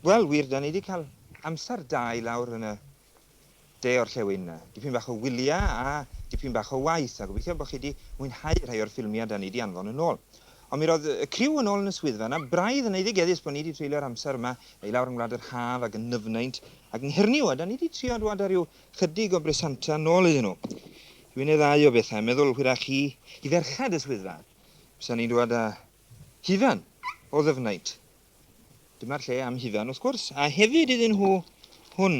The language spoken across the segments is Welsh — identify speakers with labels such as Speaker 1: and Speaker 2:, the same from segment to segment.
Speaker 1: Wel, wir, da ni wedi cael amser da i lawr yn y de o'r llewyn. Dipyn bach o wyliau a dipyn bach o waith, a gobeithio bod chi wedi mwynhau rhai o'r ffilmiau da ni wedi anfon yn ôl. Ond mi roedd y criw yn ôl yn y swyddfa yna, braidd yn eiddigeddus bod ni 'di treulio'r amser yma i lawr yng Ngwlad yr Haf ag yn nyfnaint ag yng Nghernyw, a 'da ni 'di trio dwad â rhyw 'chydig o bresanta nôl iddyn nhw. Dwi'n eddau o bethau, meddwl hwyrach i i ferched y swyddfa, bysa ni'n dwad â hufen o ddyfnaint, dyma'r lle am hufen wrth gwrs, a hefyd iddyn nhw hwn.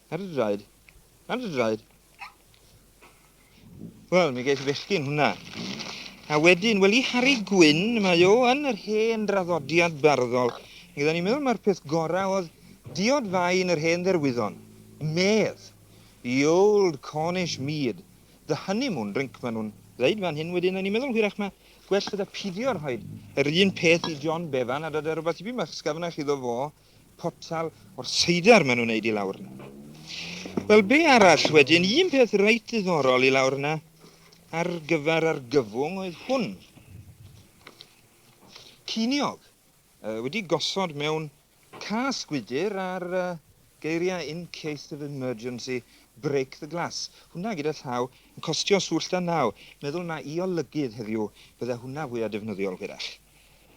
Speaker 1: Ar y draed. Ar y draed. Wel, mi ges i fechgyn hwnna. A wedyn, wel i Harry Gwyn, mae o yn yr hen draddodiad barddol. Gyda ni'n meddwl mae'r peth gorau oedd diod fai yn yr hen dderwyddon. Medd. The old Cornish mead. The honeymoon drink, maen nhw'n ddeud fan hyn wedyn. A ni'n meddwl hwyrach mae gwell gyda pidio rhoi yr un peth i John Bevan a dod â rhywbeth tipyn bach sgafnach iddo fo. potel o'r seidr maen nhw'n neud i lawr yna. Wel, be arall wedyn? Un peth reit ddiddorol i lawr yna ar gyfer argyfwng oedd hwn. Ciniog uh, wedi gosod mewn cas gwydr ar uh, geiriau in case of emergency break the glass. Hwna gyda llaw yn costio swll da naw. Meddwl na i olygydd heddiw, bydde hwnna fwyaf defnyddiol hwyrach.